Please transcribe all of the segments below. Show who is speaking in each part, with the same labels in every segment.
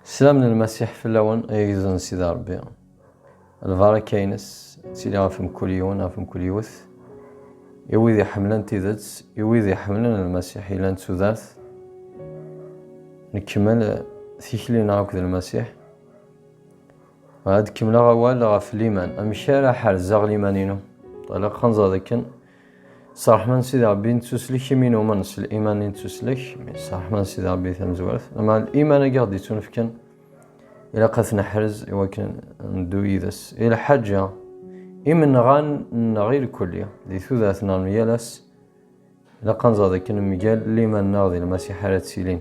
Speaker 1: Slam n lmasiḥ fell-awen ay igduden n Sidi Ṛebbi. Lbaraka-nnes tili ɣef mkul yiwen, ɣef mkul yiwet. I wid iḥemmlen tidet, i wid iḥemmlen lmasiḥ yellan d tudert. Nkemmel tikli-nneɣ akked lmasiḥ. Ad kemmleɣ awal ɣef liman. Amek ara ḥerzeɣ liman-inu? Ilaq ad nẓer dakken S ṛṛeḥma n Sidi Ṛebbi nettuslek imi numen s liman i nettuslek, s ṛṛeḥma n Sidi Ṛebbi tamezwarut, ma liman-agi i ɣ-d-ittunefken ilaq ad t-neḥrez i wakken neddu yid-s i lḥaǧa imenɣan-nneɣ ilkulli di tudert-nneɣ n yal ass, ilaq ad nẓer dakken mgal liman-nneɣ di Lmasiḥ ara ttilin.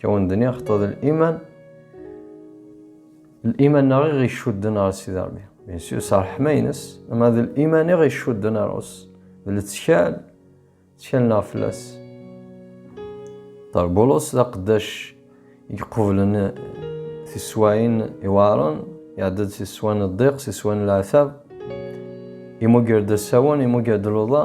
Speaker 1: Kawendni axeṭṭu d liman. Liman neɣ i ɣ-icudden ɣer Sidi Ṛebbi. Bien sûr, s ṛṛeḥma-ines, ama d liman i ɣ-icudden ɣer Ṛus. D lettkal, ttkal neɣ fell-as. Ṭer Bulus d aqeddac i iqublen tiswayin iweɛṛen, iɛedda-d si sswa n ddiq, si sswa n leɛtab, imugger-d asawen, imugger-d luḍa,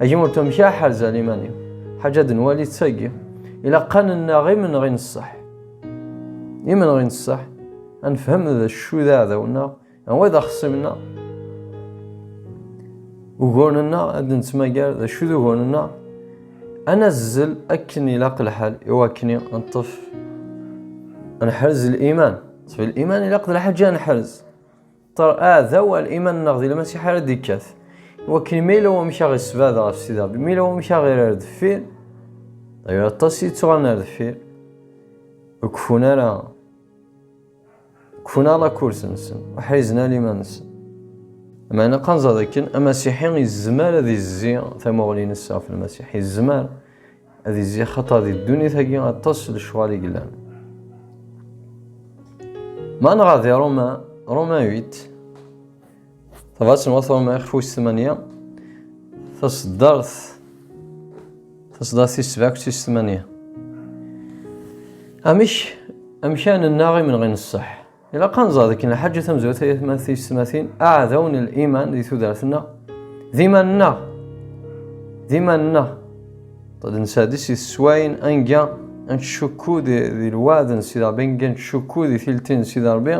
Speaker 1: Agi ur tmekki aḥerzal iman-iw. Ḥaǧa ad nwali ttagi. Ilaq ad nennaɣ imenɣi n ṣṣeḥ. Imenɣi n ṣṣeḥ, ad nefhem d acu d aɛdaw-nneɣ, anwa d axṣim-nneɣ. Uguren-nneɣ ad d-nettmagar d acu d uguren-nneɣ. Ad nazzel akken ilaq lḥal i wakken ad neṭṭef ad neḥrez liman. Ṭṭef liman ilaq d lḥaǧa ad neḥrez. Aɛdaw ar iman-nneɣ di Lmasiḥ ara d-ikkat. Iwakken ma yella wamek ara ɣ-isbad ɣef Sidi Ṛebbi, ma yella wamek ara ɣ-irr ar deffir, dayyu aṭas i yettɣan ar deffir, ur keffun ara, keffun ara lakurs-nsen, ur ḥrizen ara iman-nsen. Meɛna ad nẓer dakken Amasiḥi yezmer ad yezzi tamuɣli-nnes ɣef Lmasiḥ, yezmer. Ad izzi xaṭer di ddunit-agi aṭas n lecɣal i yellan. Ma nɣer di Roma, Roma 8, tabrat n wat Roma ixef wis 8, taseddart, taseddart tis 7 akked tis 8. Amek, amek ara nennaɣ imenɣi n ṣṣeḥ? Ilaq ad nẓer dakken lḥaǧa tamezwarut ay atmaten tiyessetmatin aɛdaw n liman di tudert-nneɣ d iman-nneɣ d iman-nneɣ d nesɛeddi si teswayin anga ad ncukku di lwaɛd n Sidi Ṛebbi anga ad ncukku di tilti n Sidi Ṛebbi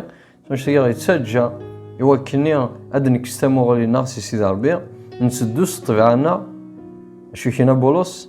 Speaker 1: maca tagi ɣ-yettaǧǧa i wakkenni ad nekkes tamuɣli-nneɣ si Sidi Ṛebbi nteddu s ṭṭbiɛa-nneɣ acu i k-yenna Bulus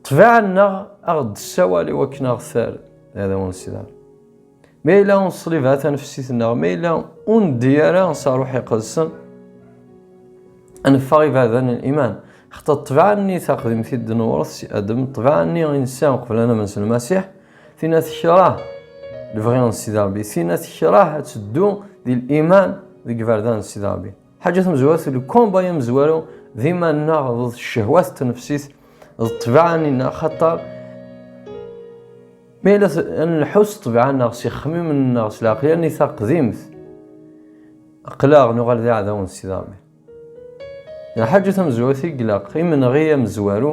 Speaker 1: Ṭṭbiɛa-nneɣ a ɣ-d-tessawal i wakken a ɣ-terr d arraw-nsider. Ma yella ur neṣlib ara tanefsit-nneɣ, ma yella ur neddi ara s Ṛṛuḥ Iqedsen, a neffeɣ iberdan n liman. Xaṭer ṭṭbiɛa-nni taqdimt i d-newṛet si Adem, ṭṭbiɛa-nni i nesɛa uqbel ad namen s Lmasiḥ, tinna tekreh lebɣi n Sidi Ṛebbi, tinna tekreh ad teddu di liman deg yiberdan n Sidi Ṛebbi. Ḥaǧa tamezwarut deg komba amezwaru d iman-nneɣ d ccehwat d tnefsit d ṭṭbaɛa-nneɣ xaṭer mi la nleḥḥu s ṭṭbaɛa-nneɣ s ixemmimen-nneɣ s lɛeqleyya-nni taqdimt aqlaɣ nuɣal d iɛdawen s idaɣmi lḥaǧa tamezwarut i ilaq imenɣi amezwaru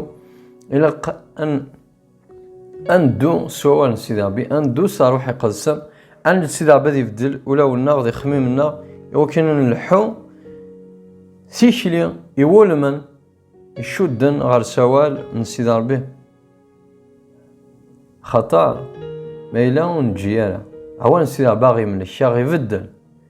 Speaker 1: ilaq an Andu s wawal n Sidi Rebbi, andu s ṛṛuḥ iqedsen, ad nel Sidi Rebbi ad ibeddel ulawen-nneɣ d ixemmimen-nneɣ iwakken ad nleḥḥu tikli iwulmen icudden ɣer sawal n Sidi Rebbi. Xaṭer, ma yella ur neǧǧi ara, awan Sidi Rebbi aɣ-imlek, aɣ-ibeddel.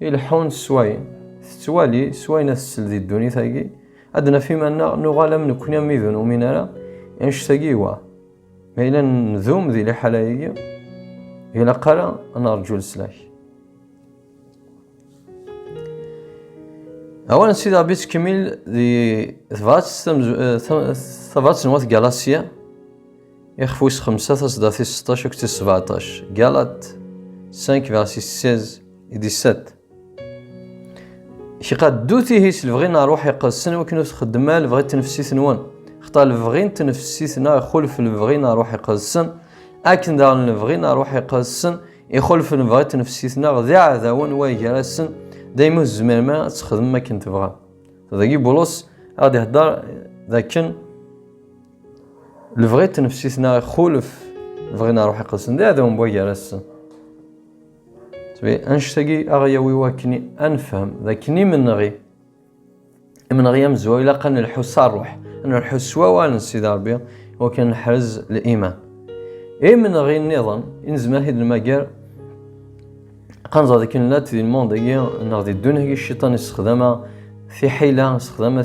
Speaker 1: Ileḥḥun s wayen tettwali, s wayen ad tsel di ddunit-agi, ad d-naf iman-nneɣ nuɣal am nekkni am wid ur numin ara, annect-agi iwa. Ma yella ndum di liḥala-agi, ilaq ara ad nerǧu leslak. Awal n Sidi Ṛebbi yettkemmil di tebṛat, tabṛat n wat Galasya, Ixef wis xemsa taseḍḍa-tis seṭṭac akked tis sbeɛṭac, Galat 5 verset 16 et 17. Kqa ddut ihi s lebɣi n ṛṛuḥ iqedsen iwakken ur txeddem ara lebɣi n tnefsit-nwen. Xeṭṭa lebɣi n tnefsit-nneɣ ixulef lebɣi n ṛṛuḥ iqedsen, akken daɣen lebɣi n ṛṛuḥ iqedsen ixulef lebɣi n tnefsit-nneɣ d iɛdawen wa gar-asen, daymi ur tezmirem ara ad txedmem akken tebɣam. Dagi Bulos ad d-iheddeṛ d akken Lebɣi tnefsit-nneɣ ixulef lebɣi n ṛṛuḥ iqedsen d aɛdaw n wagar-asen. Annect-agi ad aɣ-yawi wakken ad nefhem d akken imenɣi imenɣi amezwaru ilaq ad nelḥu s ṛṛuḥ, ad nelḥu s wawal n Sidi Ṛebbi iwakken ad neḥrez liman. Imenɣi nniḍen i nezmer ad t-id-nemmager ad nẓer d akken nella-d di lmund-agi neɣ di ddunit-agi cciṭan yessexdam-aɣ tiḥila, yessexdam-aɣ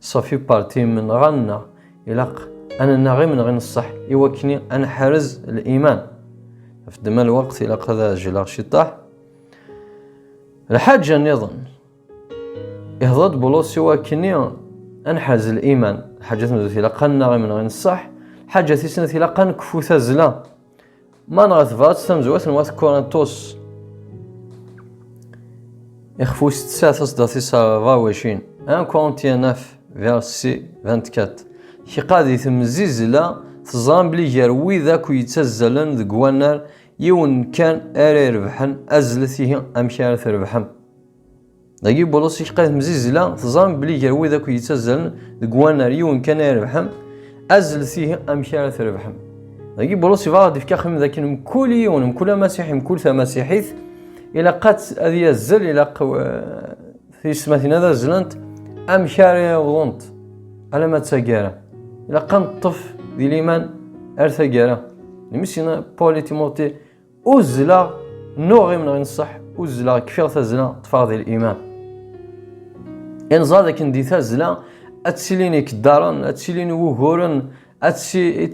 Speaker 1: Safi parti imenɣan-nneɣ ilaq ad nenaɣ imenɣi n ṣṣeḥ i wakken ad neḥrez liman. Ɣef ddemma n lweqt ilaq ad ɛejleɣ ciṭṭaḥ. Lḥaǧa nniḍen, ihḍer-d Bulus i wakken-nni ad neḥrez liman. Lḥaǧa tmeddurt ilaq ad nenaɣ imenɣi n ṣṣeḥ. Lḥaǧa tis snat ilaq ad nekfu tazzla. Man ɣer tebrat tamezwat n wat Kurintus ixfus tsa tasdaɣt is ravacin un Corinthienaf versi 24 kiqa di temzizla teẓram bli gar wid akk yettazzalen deg wannar yiwen kan ara irebḥen azlet ihi amek ara trebḥem Dagi Bulus iḥqir temzizla teẓram belli gar wid akk yettazzalen deg wannar yiwen kan ay rebḥen azlet ihi amek ara trebḥem. Dagi Bulus ibɣa ad ifka xim dakken mkul yiwen mkul amasiḥi mkul tamasiḥit ilaq ad yazzel ilaq tiyesmatin ad azzlent amek ara yawḍent alama d taggara. Ilaq ad neṭṭef di liman ar taggara. Lmesyna Paul i Timoti Uzzleɣ, nuɣ imneɣ inṣeḥ, uzzleɣ kfiɣ tazla, ṭṭfeɣ di l-iman. Inẓa d akken di tazla, ad tilin ikeddaren, ad tilin wuguren, ad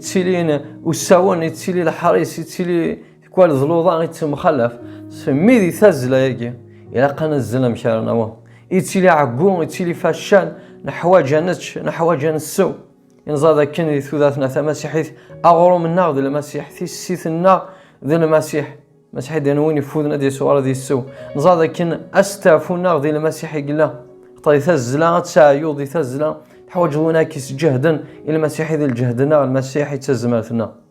Speaker 1: tilin usawen, ad tili leḥris, ad tili tikwal d luḍa, ad temxalaf. Mi di tazla-agi, ilaq ad nazzel amek ara naweḍ. Ittili ɛeggu, ittili facal, neḥwaǧ ad nečč, neḥwaǧ ad nessew. Inẓad akken di tudatna tamasiḥit, aɣrum-nneɣ d lmasiḥ, tissit-nneɣ d lmasiḥ. Masiḥ d win ifuden ad yeswar ad yessew. Nẓad akken astafu-nneɣ di lmasiḥ i yella. Xeṭṭay tazzla ad teɛyu di tazzla, teḥwaǧeḍ win ara k-isǧehden, i lmasiḥ i d lǧehd-nneɣ, lmasiḥ i d tazmert-nneɣ.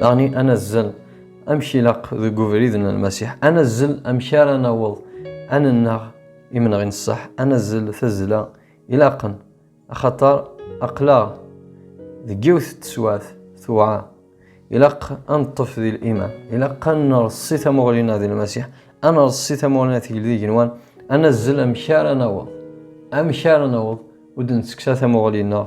Speaker 1: Daɣni anazzel amek ilaq deg ubrid n Lmasiḥ, anazzel amek ara naweḍ ad nennaɣ imenɣi n ṣṣeḥ, anazzel tazzla ilaqen, axaṭer aql-aɣ deg yiwet n teswiɛt tewɛer. Ilaq ad neṭṭef di liman, ilaq ad nreṣṣi tamuɣli-nneɣ di Lmasiḥ, ad nreṣṣi tamuɣli-nneɣ tegl d igenwan, anazzel amek ara naweḍ, amek ara naweḍ ur d-netteksa tamuɣli-nneɣ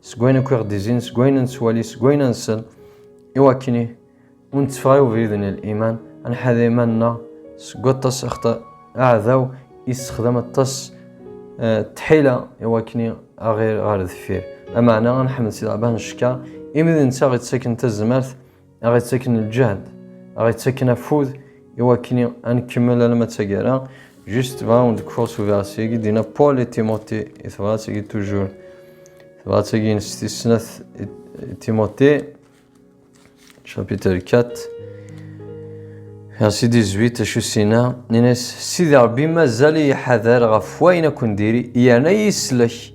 Speaker 1: seg wayen akk i ɣ-d-izin seg wayen nettwali seg wayen ansen iwakken ur netteffeɣ i ubrid n liman ad nḥader iman-nneɣ seg waṭas axaṭer aɛdaw yessexdam aṭas eh, tḥila iwakken aɣir ɣer deffir ameɛna ad nḥmed si leɛbah n ccekka imi d netta ɣ-ittaken tazmert a ɣ-ittaken lǧehd, a ɣ-ittaken afud i wakken ad nkemmel alamma d taggara. Juste tebɣa ur d-kfuɣ s uberras-agi d-yenna Paul et Timothée i tebrat-agi toujours. Tebrat-agi s tis snat Timothée, chapitre 4, verset 18, acu s-inna, nnan-as, Sidi Rebbi mazal-iyi ḥader ɣef wayen akk n diri, yerna iyi-sellek,